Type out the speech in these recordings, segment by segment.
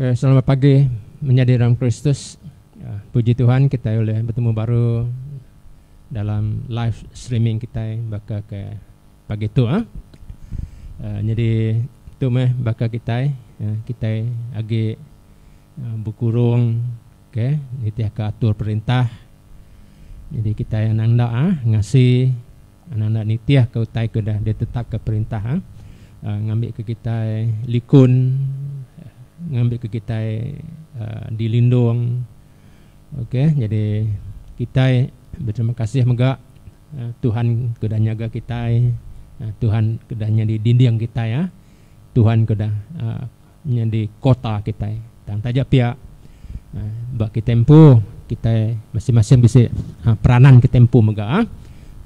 Okay, selamat pagi menjadi dalam Kristus. Ya, puji Tuhan kita boleh bertemu baru dalam live streaming kita baka ke pagi tu ah. Uh, jadi tu meh baka kita uh, kita agi uh, berkurung okey nitih ke atur perintah. Jadi kita yang nanda ah ngasi Enda enda nitih ka utai ke udah di tetap ka perintah ngambi ka kitai likun ngambi ka kitai di lindung ok jadi kitai beterima kasih mega tuhan ke udah nyaga kitai tuhan ke udah nyadi dinding kitai tuhan ke udah. nyadi kota kitai. Tang taja pia, ba kitai empu, kitai masing-masing bisi peranan kitai empu mega.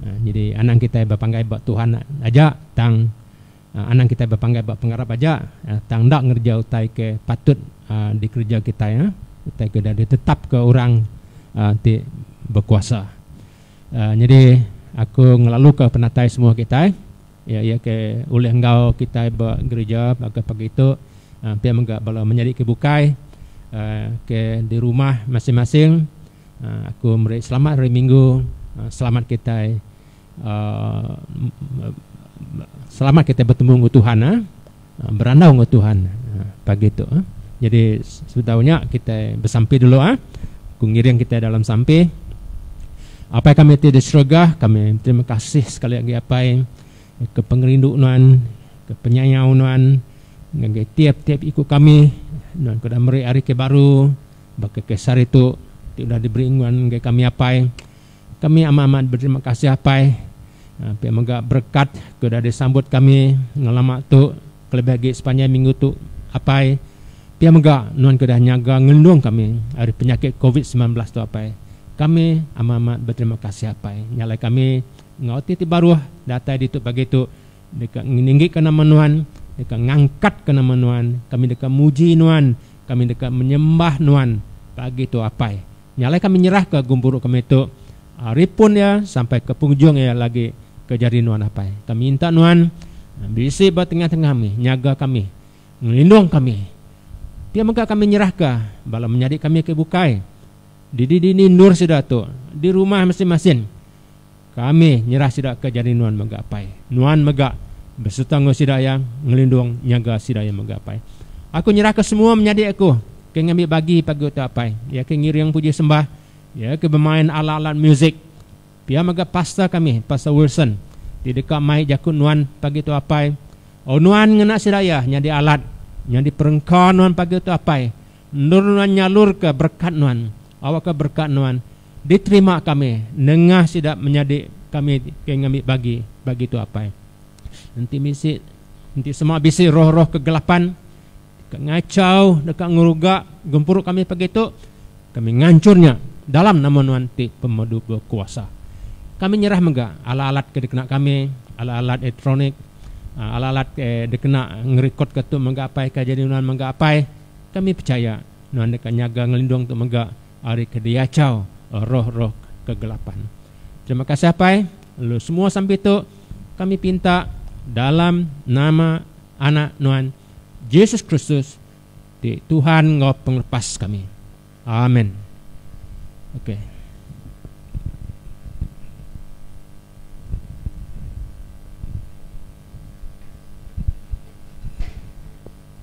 Nyadi anang kitai bepanggai ba Tuhan aja tang anang kitai bepanggai ba pengarap aja tang enda ngereja utai ke patut dikereja kitai, utai ke udah ditetapka orang ti bekuasa. Nyadi aku ngelaluka penatai semua kitai. Iya iya ke ulih enggau kitai ba gerija baka pagi tu ampin mega bala menyadi ke bukai ke di rumah masing-masing aku meri selamat hari minggu selamat kitai selamat kitai betemu enggau Tuhan. Berandau enggau Tuhan pagi tu. Jadi sebedau nya kitai besampi dulu ah. Ku ngiring kitai dalam sampi. Apai kami ti di serega, kami terima kasih sekali agi Apai ke pengerindu nuan, ke penyayau nuan ngagai tiap-tiap iku kami. Nuan ke udah meri hari ke baru baka ke sehari tu ti udah diberi nuan ngagai kami Apai. Kami amat-amat beterima kasih Apai pia mega berekat ke udah disambut kami ngelama tu kelebih agi sepanjai minggu tu Apai pia mega nuan ke udah nyaga ngelindung kami ari penyakit covid semilan belas tu Apai kami amat-amat beterima kasih Apai nya alai kami enggau ati ti baruh datai ditu pagi tu deka ngeninggikan nama nuan deka ngangkatkan nama nuan kami deka muji nuan kami deka menyembah nuan pagi tu Apai Nya alai kami nyerahka gempuru kami tu ari pun iya sampai ke pengujung iya lagi ke jari nuan apai. Kami minta nuan bisi ba tengah-tengah kami, nyaga kami, ngelindung kami. Pia mega kami nyerahka bala menyadi kami ke bukai didi-dini endur sida tu di rumah masing-masing. Kami nyerah sida ke jadi nuan mega apai. Nuan mega besereta enggau sida iya, ngelindung, nyaga sida iya mega apai. Aku nyerahka semua menyadi aku ke ngambi bagi pagi utai apai, iya ke ngiring puji sembah, iya ke bemain alat-alat musik, pia mega pastor kami, Pastor Wilson, ti deka mai jaku nuan pagi tu apai. Au nuan ngena sida iya nyadi alat, nyadi perengka nuan pagi tu apai, endur nuan nyalurka berekat nuan Awakka berekat nuan diterima kami nengah sida menyadi kami ke ngambi bagi bagi tu apai. Enti bisi enti sema bisi roh-roh kegelapan deka ngachau deka ngeruga gempuru kami pagi tu kami nganchur nya dalam nama nuan ti pemadu bekuasa. Kami nyerah mega alat-alat ke dikena kami, alat-alat elektronik, alat-alat ke dikena ngerekodka tu mega apai ke jadi nuan mega apai. Kami pechaya Nuan deka nyaga ngelindung tu mega ari ke diachau roh-roh kegelapan. Terima kasih Apai, lalu semua sampi tu kami pinta dalam nama Anak Nuan Jesus Kristus ti Tuhan enggau Pengelepas kami. Amen. Okey.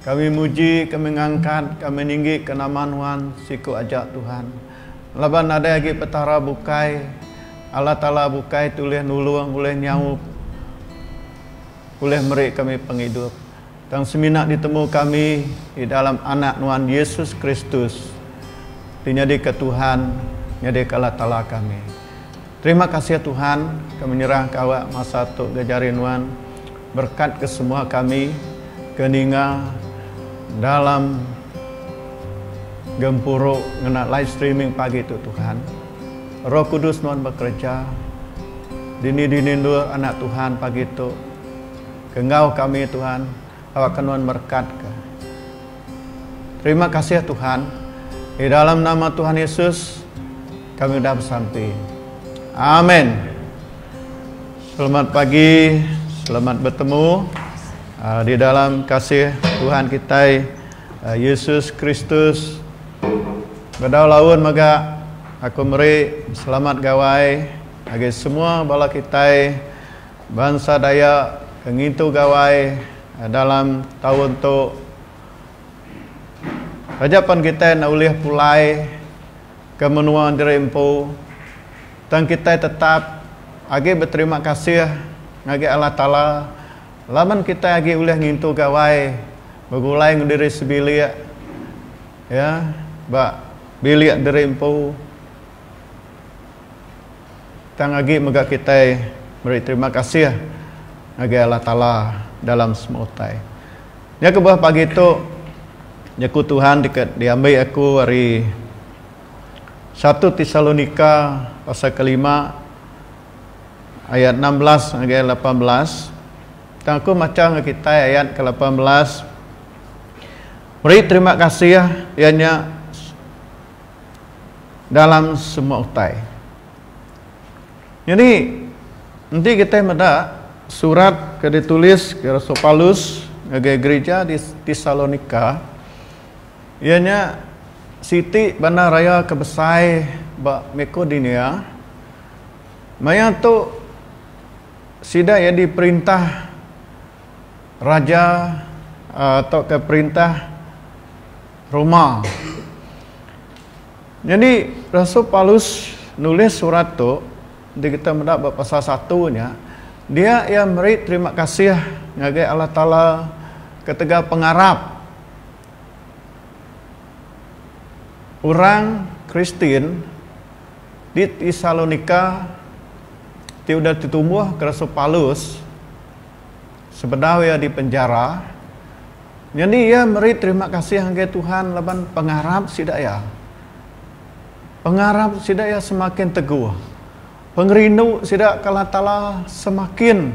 Kami muji, kami ngangkat, kami ninggika nama Nuan, siku aja Tuhan. Laban nadai agi Petara bukai, Allah Taala bukai ti ulih nulung, ulih nyaup, ulih meri kami pengidup. Tang semina ditemu kami di dalam Anak Nuan Yesus Kristus, ti nyadika Tuhan, nyadika Allah Taala kami. Terima kasih Tuhan ke menyerahka awak masa tu ga jari nuan berkat ke semua kami ke ninga dalam gempuru ngena live streaming pagi tu Tuhan. Roh Kudus nuan bekereja dini dini endur anak Tuhan pagi tu ke enggau kami Tuhan. Aba ke nuan merekat ke. Terima kasih Tuhan. Di dalam nama Tuhan Yesus kami udah besampi. Amen. Selamat pagi, selamat bertemu uh, di dalam kasih Tuhan kita uh, Yesus Kristus. Bedau laun mega aku meri selamat gawai bagi semua bala kita Bansa Dayak ke ngintu Gawai dalam taun tu taja pan kitai enda ulih pulai ke menua diri empu tang kitai tetap agi beterima kasih ngagai Allah Taala laban kitai agi ulih ngintu Gawai begulai enggau diri sebilik iya ba bilik diri empu. Tang agi mega kitai meri terima kasih ngagai Allah Taala dalam semua utai. Nya kebuah pagi tu jaku Tuhan ti ke diambi aku ari satu Tesalonika pasal kelima ayat enam belas ngagai lapan belas. Tang aku macha ngagai kitai ayat ke lapan belas. Meri terima kasih iya nya dalam semua utai. Nyadi enti kitai meda surat ke dituliska Rasul Paulus ngagai gerija di Tesalonika iya nya siti bandar raya ke besai ba Makedonia maya tu sida iya diperintah raja tauka perintah Roma. Nyadi rasul Paulus nulis surat tu di kita meda ba pasal satu nya dia iya meri terima kasih ngagai Allah Taala ketegal pengarap orang Kristian di Tesalonika ti udah ditumbuh ke rasul Paulus sebedau iya dipenjara. Nyadi iya meri terima kasih ngagai Tuhan laban pengarap sida iya. Pengarap sida iya semakin teguh. Pengerindu sida ke Allah Taala semakin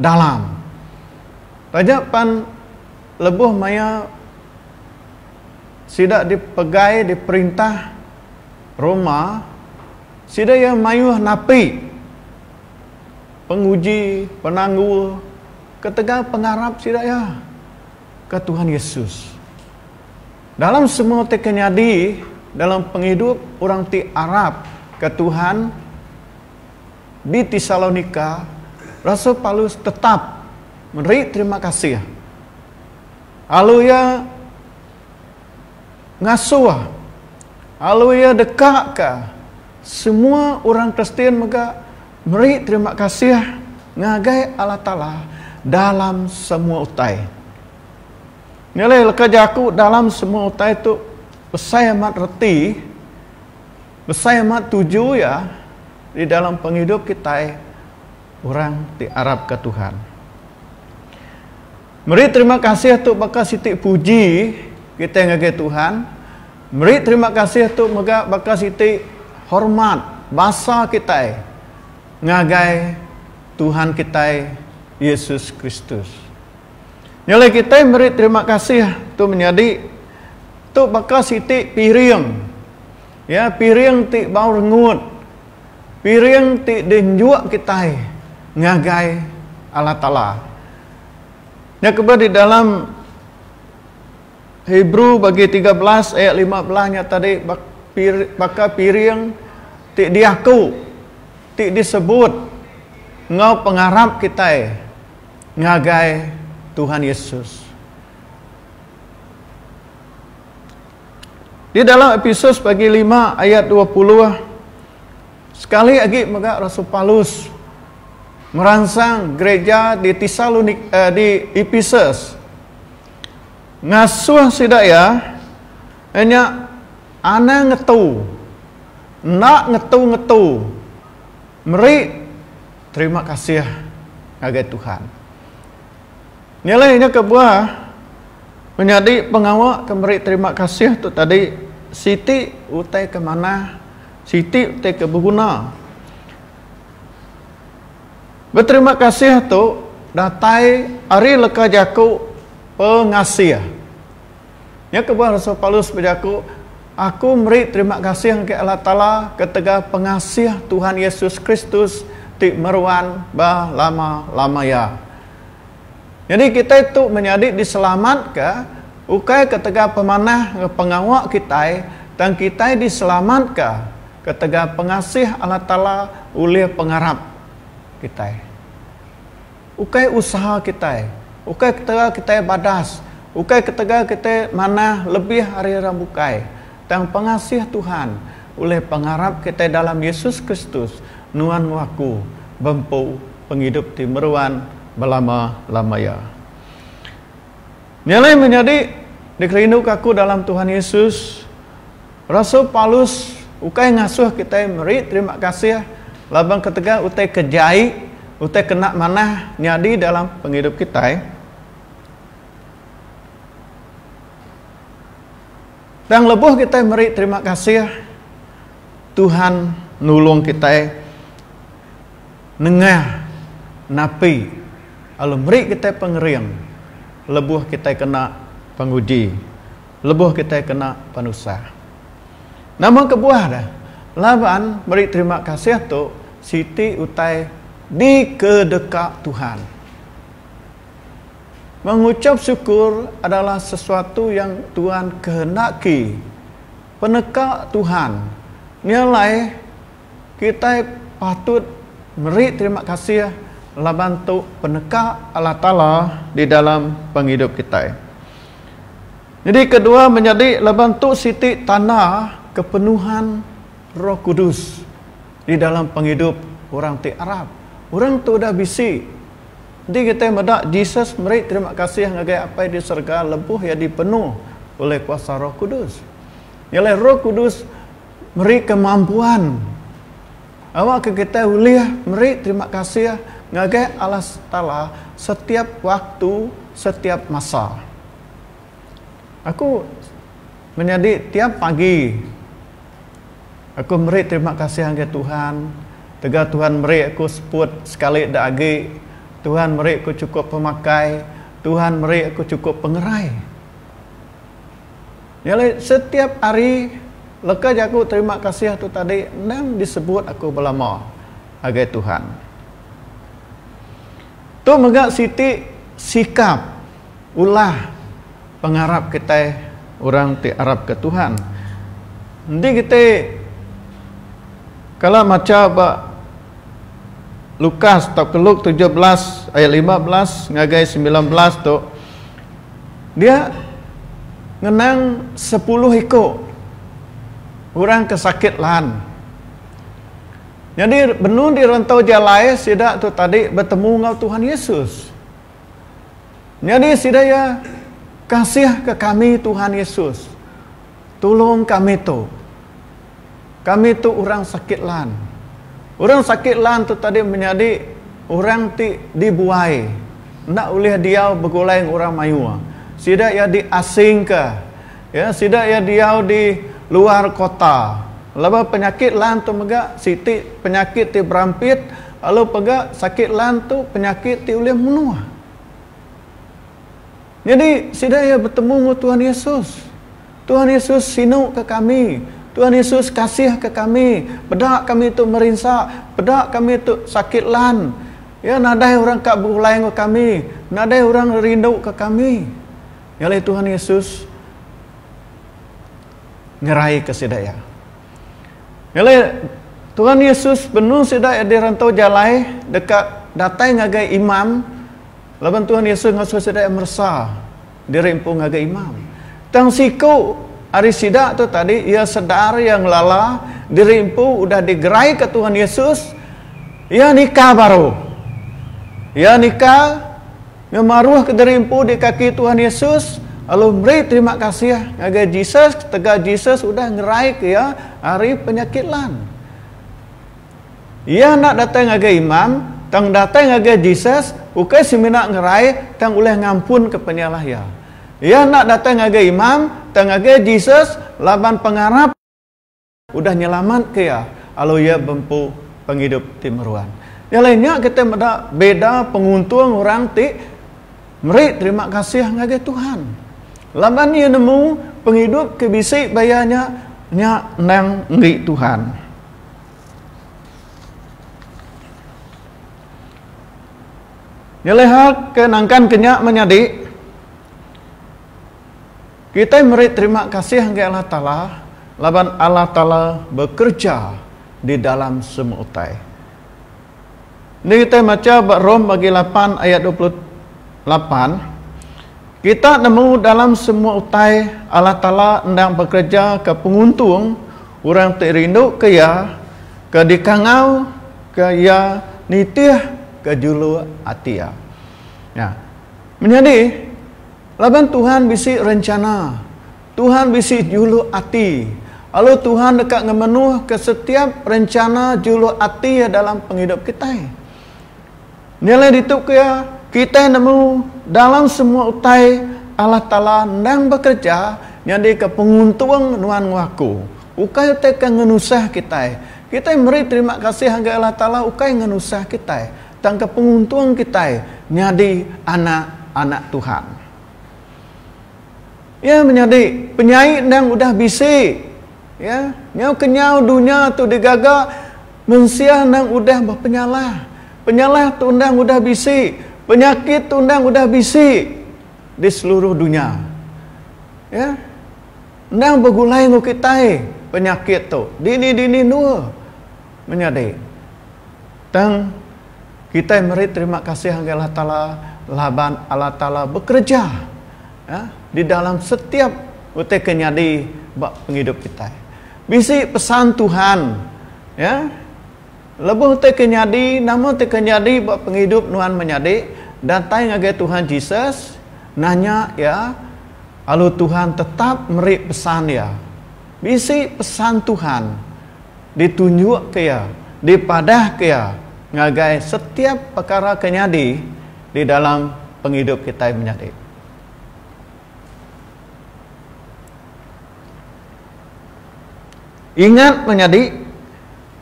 dalam. Taja pan lebuh maya sida dipegai diperintah Roma, sida iya mayuh napi penguji, penanggul. Ketegal pengarap sida iya ke Tuhan Yesus. Dalam semua ti ke nyadi dalam pengidup orang ti arap ke Tuhan di Tesalonika, rasul Paulus tetap meri terima kasih lalu iya ngasuh lalu iya dekaka semua orang Kristian mega Meri terima kasih ngagai Allah Taala dalam semua utai. Nilai leka jaku dalam semua utai tu besai amat reti, besai amat tuju iya di dalam pengidup kitai orang ti arapka Tuhan. Meri terima kasih tu baka siti puji kitai ngagai Tuhan. Meri terima kasih tu mega baka siti hormat basa kitai ngagai Tuhan kitai Yesus Kristus. Nya alai kitai meri terima kasih tu menyadi tu baka siti piring ya piring ti bau rengut. piring ti dinjuk kitai ngagai Allah Taala. Nya kebe di dalam Hebrew bagi tiga belas ayat lima belas nya tadi baka piring ti diaku ti disebut enggau pengarap kitai ngagai Tuhan Yesus. Di dalam Episus bagi lima ayat dua puluh, sekali agi mega Rasul Paulus meransang gereja di Tesalonik eh, di Episus ngasuh sida iya nya anang ngetu enda ngetu-ngetu meri terima kasih ngagai Tuhan. Nyelai nya kebuah menyadi pengawa ke meri terima kasih tu tadi siti utai ke manah, siti utai ke beguna. Beterima kasih tu datai ari leka jaku pengasih. Nya kebuah Rasul Paulus bejaku, Aku meri terima kasih ngagai Allah Taala ketegal pengasih Tuhan Yesus Kristus ti meruan ba lama-lama iya. Nyadi kitai tu menyadi diselamatka ukai ketegal pemanah enggau pengawa kitai tang kitai diselamatka ketegal pengasih Allah Taala ulih pengarap kitai. Ukai usaha kitai, ukai ketegal kitai badas, ukai ketegal kitai manah lebih ari orang bukai. Tang pengasih Tuhan ulih pengarap kitai dalam Yesus Kristus, Nuan enggau aku, bempu pengidup ti meruan belama-lamaya. Nyelai menyadi dikerinduka aku dalam Tuhan Yesus, rasul Paulus ukai ngasuh kitai meri terima kasih laban ketegal utai ke jai, utai ke enda manah nyadi dalam pengidup kitai. Tang lebuh kitai meri terima kasih, Tuhan nulung kitai nengah napi lalu meri kitai pengering lebuh kitai kena penguji, lebuh kitai kena penusah. Nama kebuah dia? Laban meri terima kasih tu siti utai dikedeka Tuhan. Menguchap syukur adalah sesuatu yang Tuhan kehendaki. Peneka Tuhan nya alai kitai patut meri terima kasih laban tu peneka Allah Taala di dalam pengidup kitai. Nyadi kedua menyadi laban tu siti tanda kepenuhan Roh Kudus di dalam pengidup orang ti arap. Orang tu udah bisi. Enti kitai meda Jesus meri terima kasih ngagai Apai di serega lebuh iya dipenuh ulih kuasa Roh Kudus. Nya alai Roh Kudus meri kemampuan awakka kitai ulih meri terima kasih ngagai Allah Taala setiap waktu, setiap masa. Aku menyadi tiap pagi. Aku meri terima kasih ngagai Tuhan tegal Tuhan meri aku seput sekali da agi, Tuhan meri aku chukup pemakai, Tuhan meri aku chukup pengerai. Nya alai setiap hari leka jaku terima kasih tu tadi endang disebut aku belama ngagai Tuhan. Tu mega siti sikap. Ulah pengarap kitai orang ti arapka Tuhan. Enti kitai kala macha ba Lukas tauka Luke tujuh belas ayat lima belas ngagai semilan belas tu, dia ngenang sepuluh iku orang ke sakit lan. Nyadi benung di rantau jalai sida tu tadi betemu enggau Tuhan Yesus. Nyadi sida iya, Kasihka kami Tuhan Yesus, tulung kami tu. Kami tu orang sakit lan. Orang sakit lan tu tadi menyadi orang ti dibuai enda ulih diau begulai enggau orang mayuh. Sida iya diasingka. Ya, sida iya diau di luar kota. Laban penyakit lan tu mega siti penyakit ti berampit. Lalu pega sakit lan tu penyakit ti ulih munuh. Nyadi sida iya betemu enggau Tuhan Yesus. Tuhan Yesus sinu ke kami. Tuhan Yesus kasih ke kami. Peda kami tu merinsa, peda kami tu sakit lan Iya nadai orang ka begulai enggau kami, nadai orang rindu ke kami. Nyalai Tuhan Yesus nyerai ke sida iya. Ngelai, Tuhan Yesus benung sida iya dirantau jalai deka datai ngagai imam laban Tuhan Yesus ngasuh sida iya meresa diri empu ngagai imam. Tang siku ari sida tu tadi iya sedar iya ngelala diri empu udah digeraika Tuhan Yesus, iya nika baru. Iya nika. Ngemaruh kediri empu di kaki Tuhan Yesus, lalu meri terima kasih ngagai Jesus ketegal Jesus udah ngeraika iya ari penyakit lan. Iya enda datai ngagai imam, tang datai ngagai Jesus ukai semina ngerai tang ulih ngampunka penyalah iya. Iya enda datai ngagai imam, tang ngagai Jesus laban pengarap. Udah nyelamatka iya lalu iya bempu pengidup ti meruan. Nyalai nya kitai meda beda penguntung orang ti meri terima kasih ngagai Tuhan laban iya nemu pengidup ke bisi ba iya nya nya endang enggi Tuhan. Nyalai hal ke nangkanka nya menyadi. Kitai meri terima kasih ngagai Allah Taala laban Allah Taala bekereja di dalam semua utai. Enti kitai macha ba Rom bagi lapan ayat dua puluh lapan, kita nemu dalam semua utai Allah Taala endang bekerejaka penguntung orang ti rinduka Iya ke dikangauka Iya nitihka juluk ati Iya. Nya. Menyadi. Laban Tuhan bisi rencana. Tuhan bisi juluk ati. Lalu Tuhan deka ngemenuhka setiap rencana juluk ati Iya dalam pengidup kitai. Nyelai ditu pia, kitai nemu dalam semua utai Allah Taala endang bekereja nyadika penguntung nuan enggau aku. Ukai utai ke ngenusah kitai. Kitai meri terima kasih ngagai Allah Taala ukai ngenusah kitai. Tangka penguntung kitai nyadi anak-anak Tuhan. Iya menyadi penyai endang udah bisi, ya. Nyau kenyau dunya tu digaga mensia endang udah bepenyalah. Penyalah tu endang udah bisi, penyakit tu endang udah bisi di seluruh dunya. Ya. Endang begulai enggau kitai penyakit tu. Dini-dini endur menyadi. Tang, kitai meri terima kasih ngagai Allah Taala laban Allah Taala bekereja di dalam setiap utai ke nyadi ba pengidup kitai. Bisi pesan Tuhan lebuh utai ke nyadi, nama ti ke nyadi ba pengidup nuan menyadi, datai ngagai Tuhan Jesus, nanya Iya, lalu Tuhan tetap meri pesan Iya. Bisi pesan Tuhan. ditunjukka iya, dipadahka iya ngagai setiap pekara ke nyadi di dalam pengidup kitai menyadi. Ingat menyadi,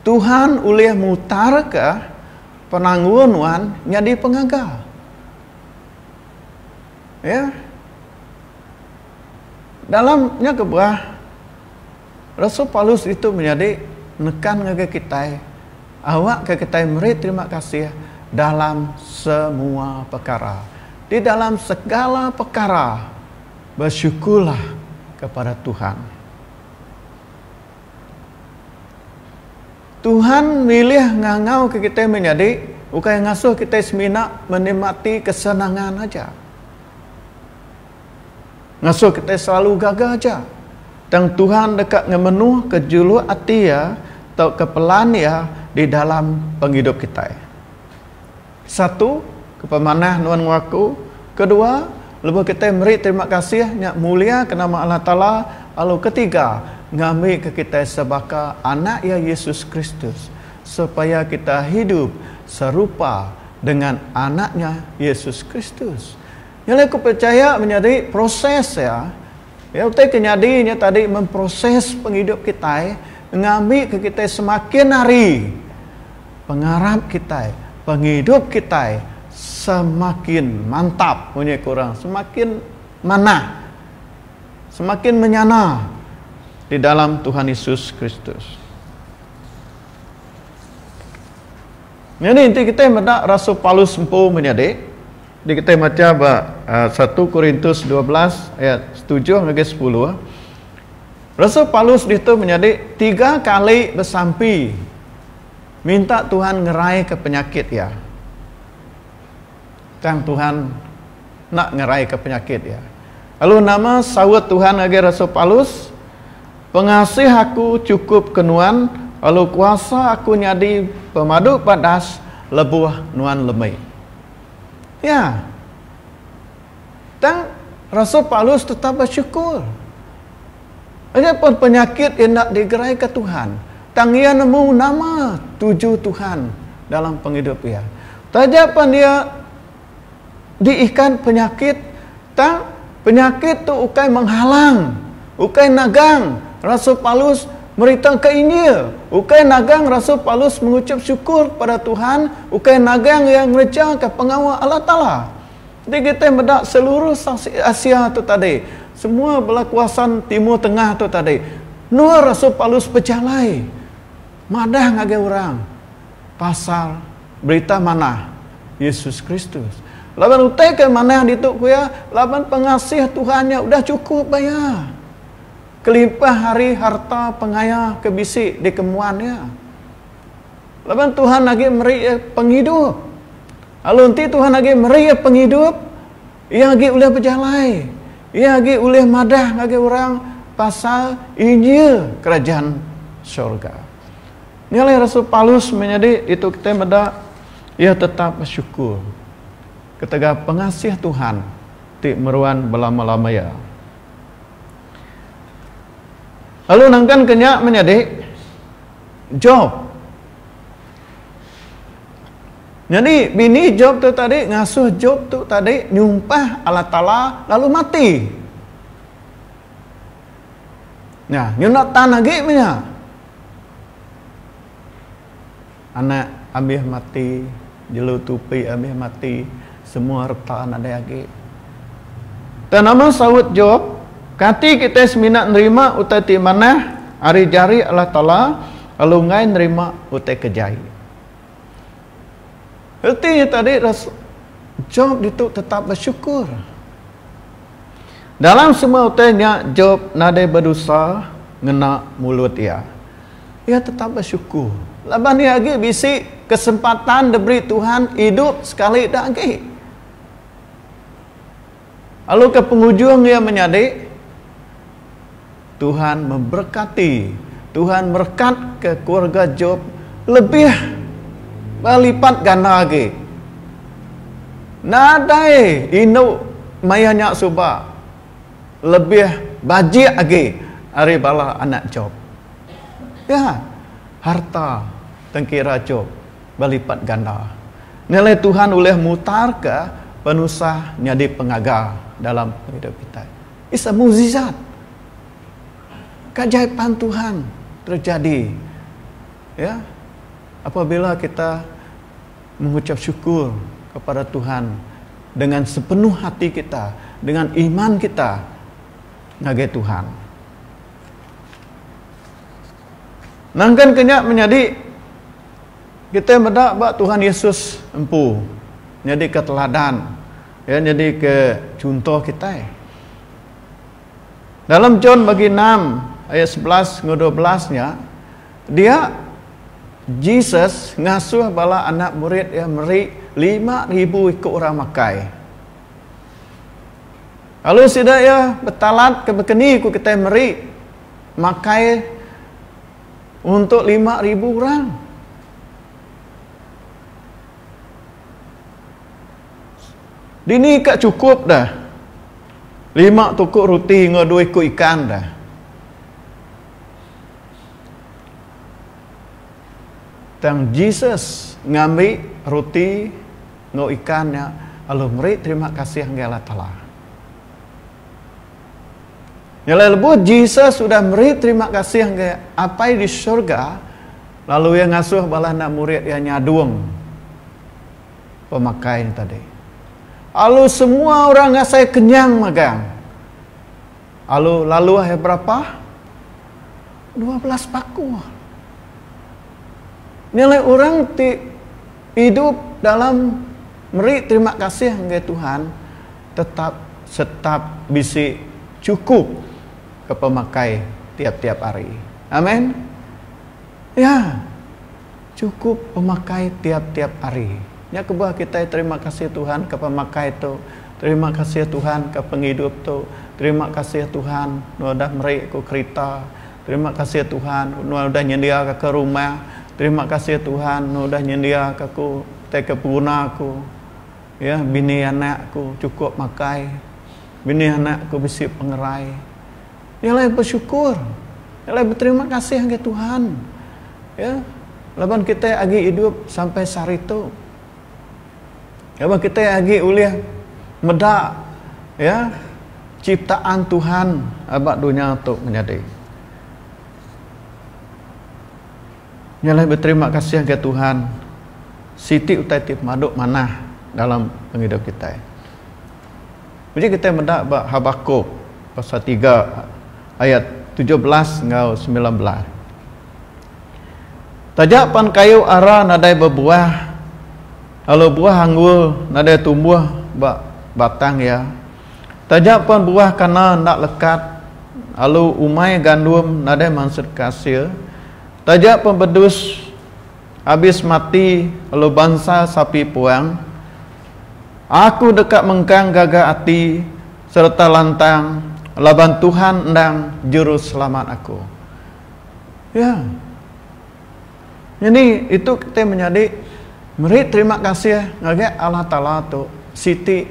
Tuhan ulih mutarka penanggul nuan nyadi pengaga. Ya. Dalam nya kebuah, Rasul Paulus ditu menyadi nekan ngagai kitai awakka kitai meri terima kasih dalam semua pekara. Di dalam segala pekara besyukurlah kepada Tuhan. Tuhan milih ngangauka kitai menyadi ukai ngasuh kitai semina menikmati kesenangan aja. Ngasuh kitai selalu gaga aja, tang Tuhan deka ngemenuhka juluk ati Iya tauka pelan Iya di dalam pengidup kitai. Satu, ke pemanah nuan enggau aku. Kedua, lebuh kitai meri terima kasih nya muliaka nama Allah Taala lalu ketiga, ngambika kitai sebaka Anak Iya Yesus Kristus supaya kitai hidup serupa dengan Anak nya Yesus Kristus. Nya alai aku pechaya menyadi proses iya, iya utai ke nyadi nya tadi meh proses pengidup kitai ngambika kitai semakin hari pengarap kitai, pengidup kitai semakin mantap munyi ku orang semakin manah, semakin menyana di dalam Tuhan Yesus Kristus. Nyadi enti kitai meda rasul Paulus empu menyadi. Di kitai macha ba satu Korintus dua belas ayat setujuh ngagai sepuluh, rasul Paulus ditu menyadi tiga kali besampi minta Tuhan ngeraika penyakit iya. Tang Tuhan enda ngeraika penyakit iya. Lalu nama saut Tuhan ngagai rasul Paulus? Pengasih aku chukup ke nuan, lalu kuasa aku nyadi pemadu badas lebuh nuan lemi. Ya. Tang rasul Paulus tetap besyukur. Nya pun penyakit enda digeraika Tuhan, tang iya nemu nama tuju Tuhan dalam pengidup iya. Taja pan iya diikan penyakit, Tang, penyakit tu ukai menghalang, ukai nagang rasul Paulus meritauka Injil, ukai nagang rasul Paulus menguchup syukur kepada Tuhan, ukai nagang iya ngerejaka pengawa Allah Taala. Enti kitai meda seluruh saksi Asia tu tadi, semua bala kuasa Timur Tengah tu tadi, endur rasul Paulus bejalai madah ngagai orang. pasal berita manah Yesus Kristus laban utai ke manah ditu ku iya laban pengasih Tuhan nya udah chukup ba iya kelimpah ari harta pengaya ke bisi dikemuan iya. Laban Tuhan agi meri iya pengidup. Lalu enti Tuhan agi meri iya pengidup, iya agi ulih bejalai. Iya agi ulih madah ngagai orang pasal injil kerajaan syurga. Nya alai rasul Paulus meh nyadi ditu kitai meda iya tetap besyukur ketegal pengasih Tuhan ti meruan belama-lama iya. Lalu nangkan ke nya meh nyadi Job. Nyadi bini Job tu tadi ngasuh Job tu tadi nyumpah Allah Taala lalu mati. Nya, nyunak tan agi meh nya. Anak abih mati, jelu tupi abih mati, semua reta nadai agi. Tang nama saut Job? Kati kitai semina nerima utai ti manah ari jari Allah Taala lalu enggai nerima utai ke jai? Reti nya tadi, Job ditu tetap besyukur. Dalam semua utai nya Jop nadai bedosa ngena mulut iya. Iya tetap besyukur laban iya agi bisi kesempatan diberi Tuhan idup sekali da agi. Lalu ke pengujung iya menyadi. Tuhan memberkati. Tuhan merekat ke keluarga Job lebih belipat ganda agi. Nadai indu maya nya suba lebih bajik agi ari bala anak Job. Ya, harta tengkira Job belipat ganda. Nya alai Tuhan ulih mutarka penusah nyadi pengaga dalam pengidup kitai. It's a mukjizat. Keajaipan Tuhan terjadi ya apabila kita mengucap syukur kepada Tuhan dengan sepenuh hati kita, dengan iman kita ngagai Tuhan. Nangkan kenya menyadi kita meda ba Tuhan Yesus empu nyadi keteladan Iya nyadika chunto kitai. Dalam John bagi enam ayat sebelas enggau dua belas nya, dia Jesus ngasuh bala anak murid iya meri lima ribu iku orang makai. Lalu sida iya betalatka bakani ku kitai meri makai untuk lima ribu orang. Dini ka chukup da lima tuku ruti enggau dua iku ikan da? Tang Jesus ngambi ruti enggau ikan nya lalu meri terima kasih ngagai Allah Taala. Nyelai lebuh Jesus udah meri terima kasih ngagai Apai di syurga, lalu iya ngasuh bala anak murid iya nyadung. pemakai nya tadi. Alu semua orang ngasai kenyang magang. Alu laluh iya berapa? Dua belas paku. Nya alai orang ti idup dalam meri terima kasih ngagai Tuhan tetap setap bisi chukup ke pemakai tiap-tiap hari. Amen. Ya. Chukup pemakai tiap-tiap hari. Nya kebah kitai terima kasih Tuhan ka pemakai tu, terima kasih Tuhan ka pengidup tu, terima kasih Tuhan nuan udah meri aku kerita, terima kasih Tuhan nuan udah nyendia ka aku rumah, terima kasih Tuhan nuan udah nyendia ka aku ti ke peguna aku. Ya, bini anak aku chukup makai, bini anak aku bisi pengerai. Dialai besyukur, dialai beterima kasih ngagai Tuhan ye laban kitai agi idup sampai sehari tu. Laban kitai agi ulih meda ye ciptaan Tuhan ba dunya tu menyadi. Nya alai beterima kasih enggai Tuhan siti utai ti pemadu manah dalam pengidup kitai. Uji kitai meda ba Habakuk pasal tiga ayat tujuh belas enggau semilan belas. Taja pan kayu ara nadai bebuah lalu buah anggur nadai tumbuh ba batang iya, Taja pan buah kana enda lekat lalu umai gandum nadai mansut ke asil, taja pan bedus abis mati lalu bansa sapi puang, aku deka mengkang gaga ati sereta lantang laban Tuhan endang Juruselamat aku. Ya. Nyadi itu kitai menyadi meri terima kasih ngagai Allah Taala tu siti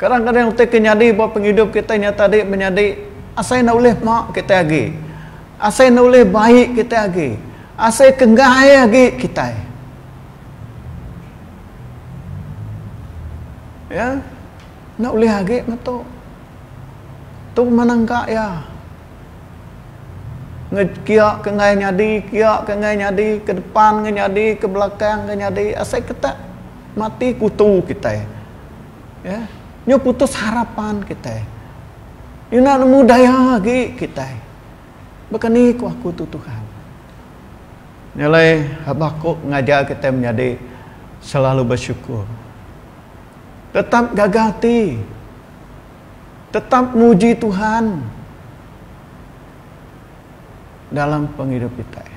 Kadang-kadang utai ke nyadi ba pengidup kitai nya tadi menyadi asai enda ulih mak kitai agi, asai enda ulih bai kitai agi, asai ke enggai agi kitai. Ya, enda ulih agi meh tu. Tu pemanang ka iya. Kia ke enggai nyadi, kia ke enggai nyadi, ke depan enggai nyadi, ke belakang enggai nyadi, asai ke tak. mati kutu kitai. Ya, nyu putus harapan kitai. Ina nemu daya agi kitai. Baka ni ku aku tu Tuhan. Nyalai Habakuk ngajar kitai menyadi selalu besyukur. Tetap gaga ati. Tetap muji Tuhan dalam pengidup kitai.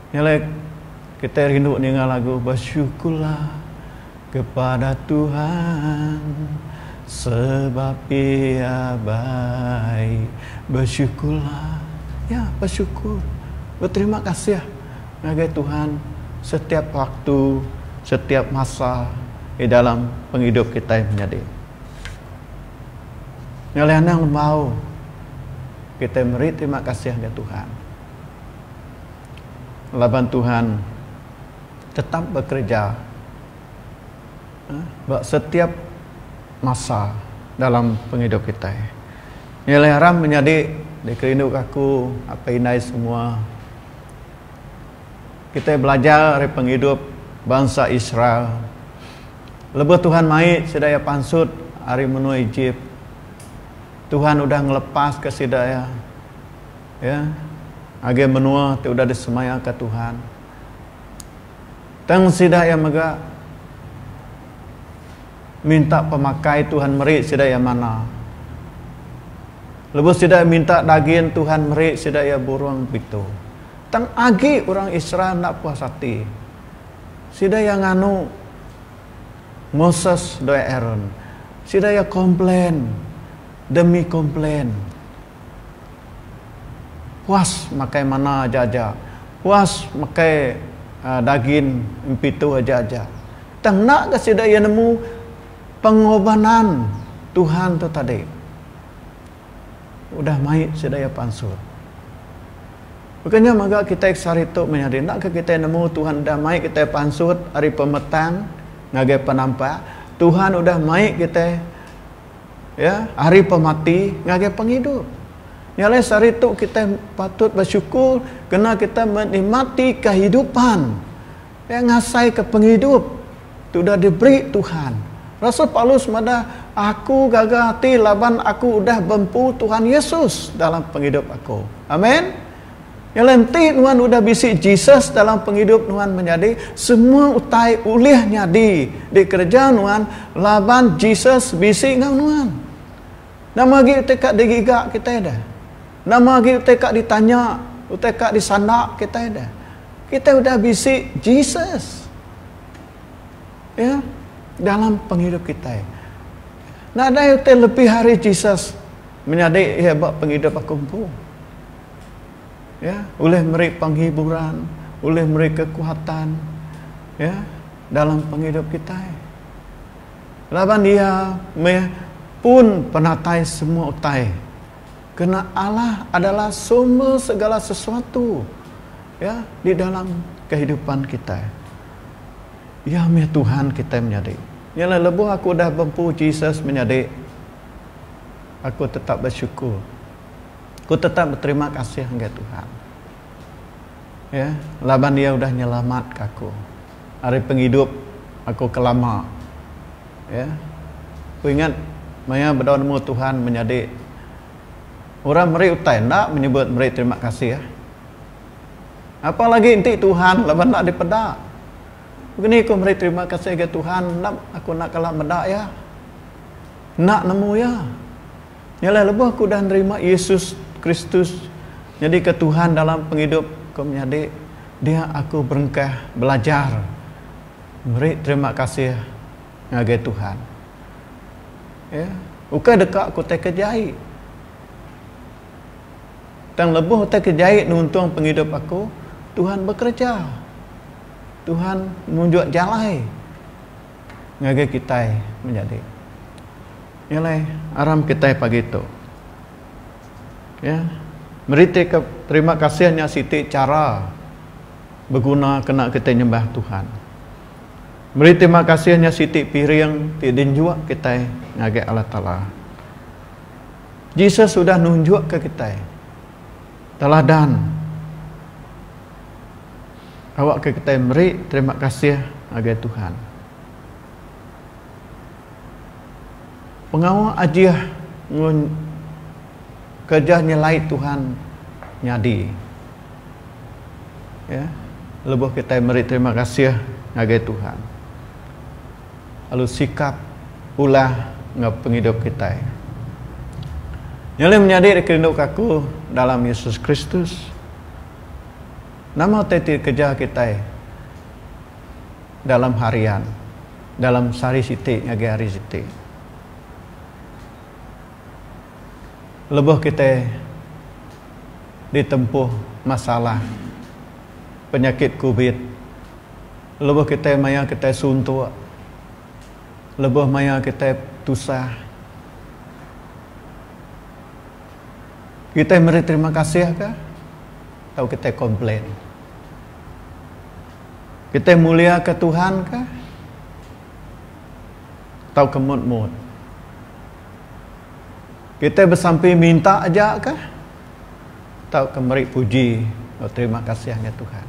Ngelek, kitai rindu ninga lagu Bersyukurlah kepada Tuhan sebab Ia baik. Bersyukurlah, ya, bersyukur, beterima kasih ngagai Tuhan setiap waktu, setiap masa di dalam pengidup kitai menyadi. Ngelih anang lembau, kitai meri terima kasih ngagai Tuhan. laban Tuhan tetap bekereja ba setiap masa dalam pengidup kitai. Nya alai aram menyadi dikerinduka aku, apai indai semua. Kitai belajar ari pengidup bansa Israel. Lebuh Tuhan mai sida iya pansut ari menua Ejip, Tuhan udah ngelepaska sida iya. Ya, ngagai menua ti udah disemayaka Tuhan. Tang sida iya mega minta pemakai Tuhan meri sida iya manna. Lebuh sida iya minta dagin Tuhan meri sida iya burung pitu. Tang agi orang Israel enda puas ati. Sida iya nganu Moses enggau Aaron. Sida iya komplain demi komplain. Puas makai mana aja-aja. Puas makai dagin empitu aja-aja. Tang enda ga sida iya nemu pengobanan Tuhan tu tadi. Udah mai sida iya pansut. Baka nya mega kitai ke sehari tu meh ari. Endaka kitai nemu Tuhan udah mai kitai pansut ari pemetang ngagai penampak. Tuhan udah mai kitai. Ya, ari pemati ngagai pengidup. Nya alai sehari tu kitai patut besyukur kena kitai menikmati kehidupan ya ngasaika pengidup ti udah diberi Tuhan. Rasul Paulus madah, Aku gaga ati laban aku udah bempu Tuhan Yesus dalam pengidup aku. Amen. Ialah enti nuan udah bisi Jesus dalam pengidup nuan menyadi, semua utai ulih nyadi dikereja nuan laban Jesus bisi enggau nuan. Nama agi utai ka digiga kitai deh? Nama agi utai ka ditanya, utai ka disanda kitai deh? Kitai udah bisi Jesus. Iya, dalam pengidup kitai. Nadai utai lebih ari Jesus menyadi iya ba pengidup aku empu. Ya, ulih meri penghiburan, ulih meri kekuatan ya dalam penghidup kita. Laban dia meh pun penatai semua utai. Kena Allah adalah sumber segala sesuatu ya di dalam kehidupan kita. Ia meh Tuhan kita menyadi. Nyalah lebuh aku dah bempu Jesus menyadi, aku tetap bersyukur. Ku tetap beterima kasih enggai Tuhan. Ya, laban iya udah nyelamatka aku ari pengidup aku ke lama. Ya. Ku ingat maya bedau nemu Tuhan menyadi orang meri utai enda menyebut meri terima kasih. Apa lagi enti Tuhan laban enda dipeda. Begini ku meri terima kasih ga Tuhan, nap aku enda kala meda iya. Enda nemu iya. Nya alai lebuh aku udah nerima Yesus Kristus nyadika Tuhan dalam pengidup aku menyadi, dia aku berengkah belajar meri terima kasih ngagai Tuhan. Ya, ukai deka aku utai ke jai. Tang lebuh utai ke jai nuntung pengidup aku, Tuhan bekereja. Tuhan nunjuk jalai. ngagai kitai menyadi iya alai aram kitai pagi tu ya meritika terima kasih nya siti chara beguna kena kitai nyembah Tuhan meri terima kasih nya siti piring ti dinjuk kitai ngagai Allah Taala Jesus sudah nunjukka kitai teladan. Awak ke kitai meri terima kasih ngagai Tuhan. Pengawa ajih enggau kerja nyelai Tuhan nyadi. Ya. Lebuh kitai meri terima kasih ngagai Tuhan. Lalu sikap, ulah enggau pengidup kitai. Nya ulih menyadi dikerinduka aku dalam Yesus Kristus. Nama utai ti dikereja kitai dalam harian, dalam sehari siti ngagai hari siti? Lebuh kitai ditempuh masalah penyakit covid, lebuh kitai mayar kitai suntuk, lebuh mayar kitai tusah. Kitai meri terima kasih kah tau kitai komplain? Kitai muliaka Tuhan kah tauka mut-mut? Kitai besampi minta aja kah tauka meri puji enggau terima kasih ngagai Tuhan?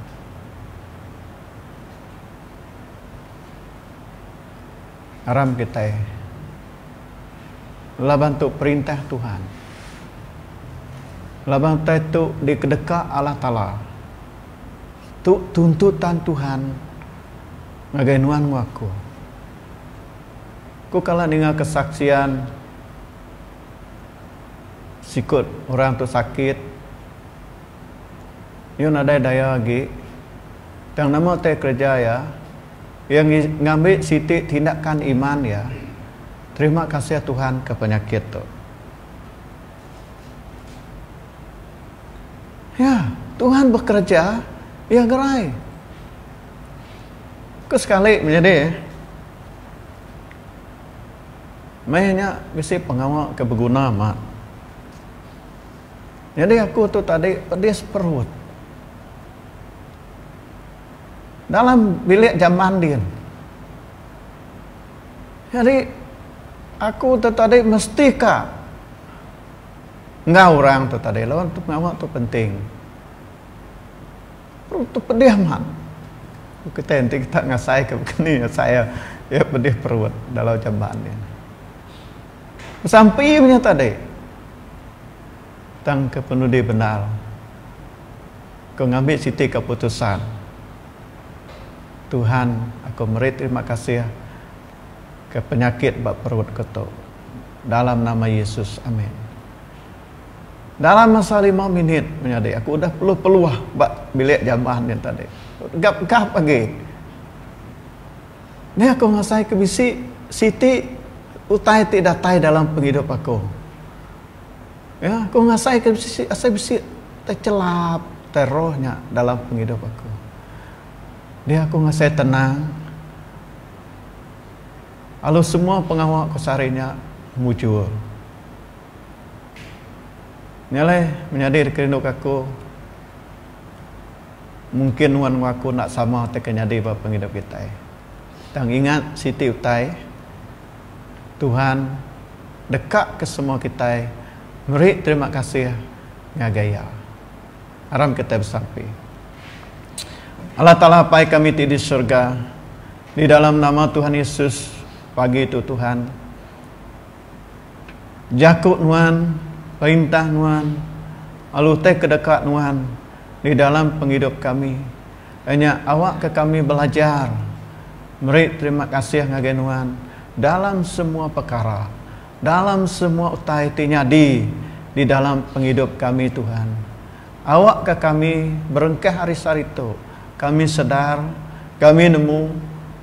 Aram kitai laban tu perintah Tuhan. Laban utai tu dikedeka Allah Taala. Tu tuntutan Tuhan ngagai nuan enggau aku. Ku kala ninga kesaksian sikut orang tu sakit Yu nadai daya agi tang nama utai kereja iya Iya ngambi siti tindakan iman iya, Terima kasih Tuhan ke penyakit tu. Ya, Tuhan bekerja, iya gerai. Ke sekali menyadi eh. Meh nya bisi pengawa ke beguna amat. Nyadi aku tu tadi pedis perut. Dalam bilik jaman din nyadi aku tu tadi mesti ka enggau orang tu tadi laban tu pengawa tu penting orang tu pedih amat kitai enti kita ngasai ka kini asai iya pedih perut dalau jaman ni besampi nya tadi tang ke penudi bendar. Aku ngambi siti keputusan. Tuhan aku meri terima kasih ke penyakit ba perut ku tu. Dalam nama Yesus amen. Dalam masa lima minit menyadi aku udah peluh peluh ba bilik jamban nya tadi. Gap gap agi. Meh aku ngasai ke bisi siti utai ti datai dalam pengidup aku. Ya, aku ngasaika bisi asai bisi techelap tai roh nya dalam pengidup aku. Dia aku ngasai tenang. Alu semua pengawa aku sehari nya mujur. Nya alai menyadi dikerinduka aku mungkin nuan enggau aku enda sama ti akan nyadi ba pengidup kitai. Tang ingat siti utai. Tuhan deka ke semua kitai meri terima kasih ngagai Iya. Aram kitai besampi. Allah Taala Apai kami ti di surga, di dalam nama Tuhan Yesus pagi tu Tuhan jaku Nuan, perintah Nuan, lalu utai ke deka Nuan di dalam pengidup kami. Nya awakka kami belajar meri terima kasih ngagai Nuan dalam semua pekara, dalam semua utai ti nyadi di dalam pengidup kami, Tuhan. Awakka kami berengkah ari sehari tu, kami sedar, kami nemu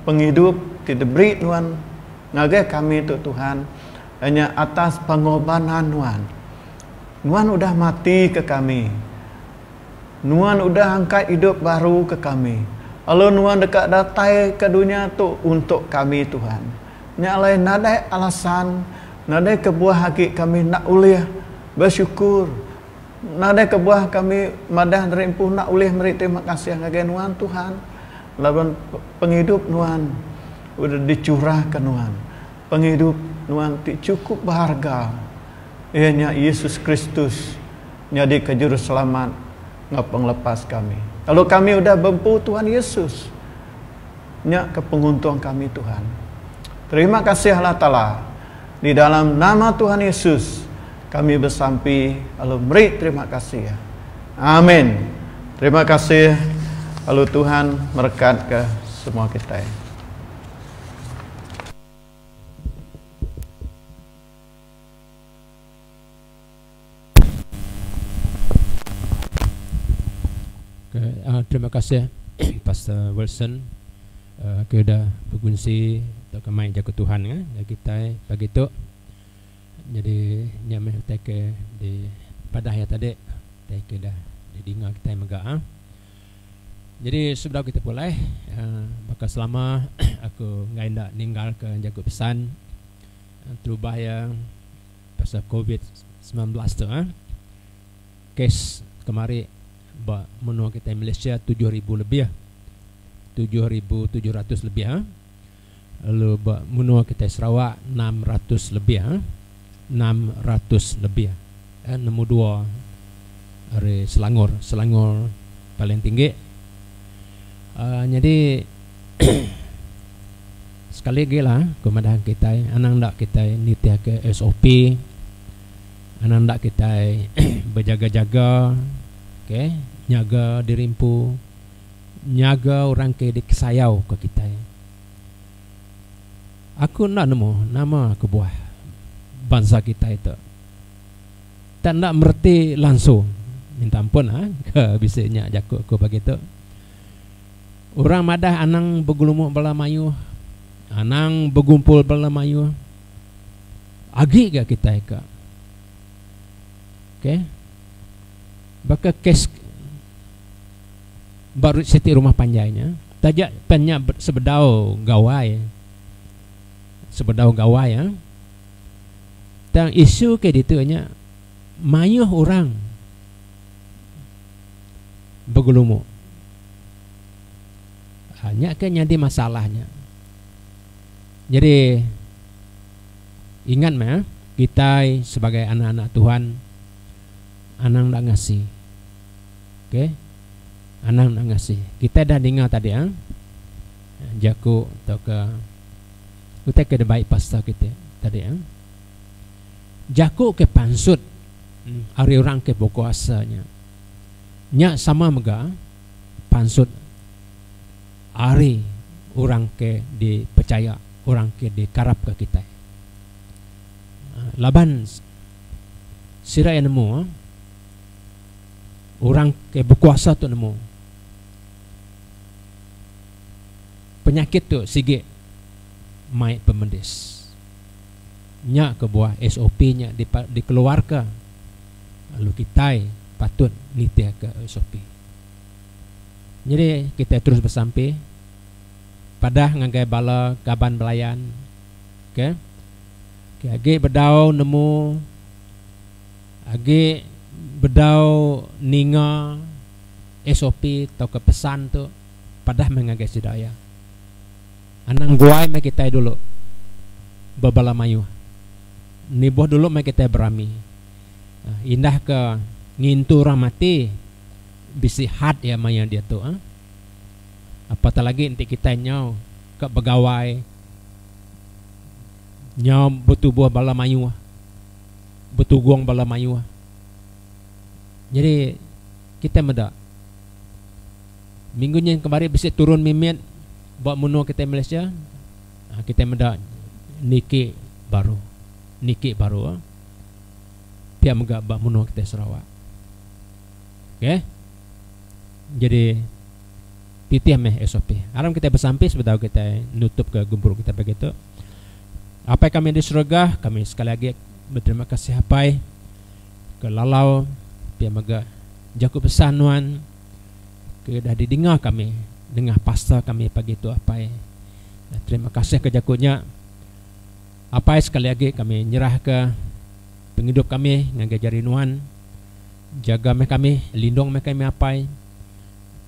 pengidup ti diberi Nuan ngagai kami tu, Tuhan, nya atas pengobanan Nuan. Nuan udah matika kami. Nuan udah angkat idup baru ke kami, lalu Nuan deka datai ke dunya tu untuk kami, Tuhan. Nya alai nadai alasan, nadai kebuah agi kami enda ulih besyukur, nadai kebuah kami madah diri empu enda ulih meri terima kasih ngagai Nuan, Tuhan, laban pengidup Nuan udah dicurahka Nuan, pengidup Nuan ti chukup beharga, iya nya Yesus Kristus. nyadika Juruselamat enggau Pengelepas kami. Lalu kami udah beempu Tuhan Yesus. Nya ke penguntung kami, Tuhan. Terima kasih Allah Taala. Di dalam nama Tuhan Yesus kami besampi lalu meri terima kasih. Amin. Terima kasih lalu Tuhan merekatka semua kitai. Okay, uh, ah, terima kasih Pastor Wilson uh, ke dah berkunci atau kemai jaga Tuhan ya. Eh, kita pagi tu jadi nya meh tak ke di padah ya tadi tak ke dah di dinga kita mega ah. Jadi sebelum kita pulai uh, baka selama aku ngai ndak ninggal ke jaga pesan uh, terubah ya pasal covid semilan belas tu eh kes kemari ba menua kitai Malaysia tujuh ribu lebih tujuh ribu tujuh ratus lebih eh lalu ba menua kitai Sarawak enam ratus lebih eh enam ratus lebih eh nombor dua ari Selangor Selangor paling tinggi nyadi Sekali agi lah ku madah kitai anang enda kitai nitihka SOP anang enda kitai bejaga jaga okay nyaga diri empu nyaga orang ke dikesayau ka kitai aku enda nemu nama kebuah bansa kitai tu tak enda mereti langsung minta ampun lah ke bisi nya jaku aku pagi tu. Orang madah anang begelumu bala mayuh, anang begumpul bala mayuh, agi ga kitai ka. Okay. Baka kes ba Route City Rumah Panjai nya, taja pen nya sebedau Gawai, sebedau Gawai ah, tang isu ke ditu nya mayuh orang begelumu. Ha, nya ke nyadi masalah nya. Nyadi ingat meh eh, kitai sebagai anak-anak Tuhan anang enda ngasi. Okey. Anang enda ngasi. Kitai dah ninga tadi eh jaku tauka utai ke dibai pastor kitai tadi eh. Jaku ke pansut hmm, ari orang ke bekuasa nya. Nya sama mega pansut ari orang ke dipechaya, orang ke dikarapka kitai. Laban sida iya nemu, orang ke bekuasa tu nemu, penyakit tu sigi mai pemedis. Nya kebuah SOP nya dikeluarka. lalu kitai patut nitihka SOP. Nyadi kitai terus besampi padah ngagai bala kaban belayan ke ke agi bedau nemu agi bedau ninga SOP tauka pesan tu padah meh ngagai sida iya. Anang guai meh kitai dulu bebala mayuh. Nibuh dulu meh kitai berami. Indah ke ngintu orang mati bisi had iya maya diatu. Apatah lagi enti kitai nyau ka begawai nyau betubuh bala mayuh, betugong bala mayuh. Nyadi kitai meda. Minggu nyin kemari bisi turun mimit ba menua kitai Malaysia kitai meda niki baru niki baru pia mega ba menua kitai Sarawak. Okey. Jadi titih meh SOP. Aram kitai besampi sebedau kitai nutup ke gempuru kitai pagi tu. Apai kami di serega, kami sekali lagi berterima kasih apai ke lalau pia mega jaku pesan nuan ke udah di dinga kami nengah pastor kami pagi tu apai terima kasih ke jaku nya apai sekali agi kami nyerah ke pengidup kami ngagai jari nuan jaga meh kami lindung meh kami apai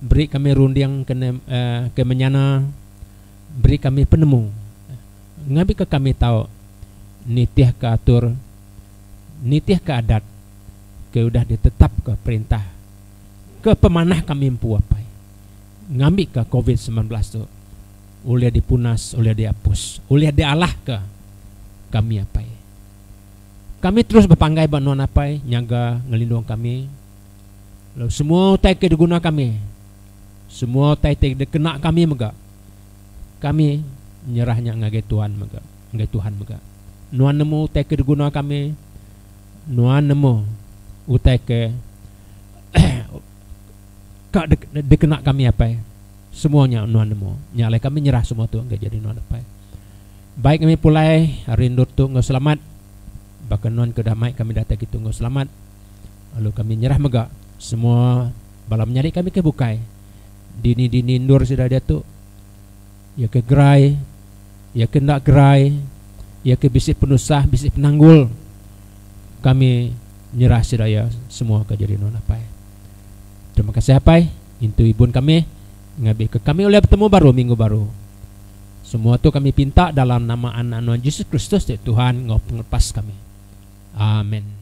beri kami runding ke uh, ke menyana beri kami penemu ngabi ke kami tau nitih ke atur nitih ke adat ke udah ditetap ke perintah ke pemanah kami empu apai ngambika covid semilan belas tu ulih dipunas ulih diapus ulih dialahka kami apai. Kami terus bepanggai ba nuan apai nyaga ngelindung kami lalu semua utai ke diguna kami semua utai ti dikena kami mega kami nyerah nya ngagai tuan mega ngagai tuhan mega nuan nemu utai ke diguna kami Nuan nemu utai ke ka dikena kami apai. Semua nya nuan nemu. Nya alai kami nyerah semua tu enggai jadi nuan apai. Baik kami pulai hari endur tu enggau selamat. Baka nuan ke udah mai kami datai kitu enggau selamat. Lalu kami nyerah mega semua bala menyadi kami ke bukai. Dini-dini endur sida diatu. Iya ke gerai, iya ke enda gerai, iya ke bisi penusah, bisi penanggul, kami nyerah sida iya semua ke jadi nuan apai. Terima kasih apai, intu ibun kami ngabi ke kami ulih betemu baru minggu baru. Semua tu kami pinta dalam nama Anak nuan Jesus Kristus ti Tuhan enggau Pengelepas kami. Amen.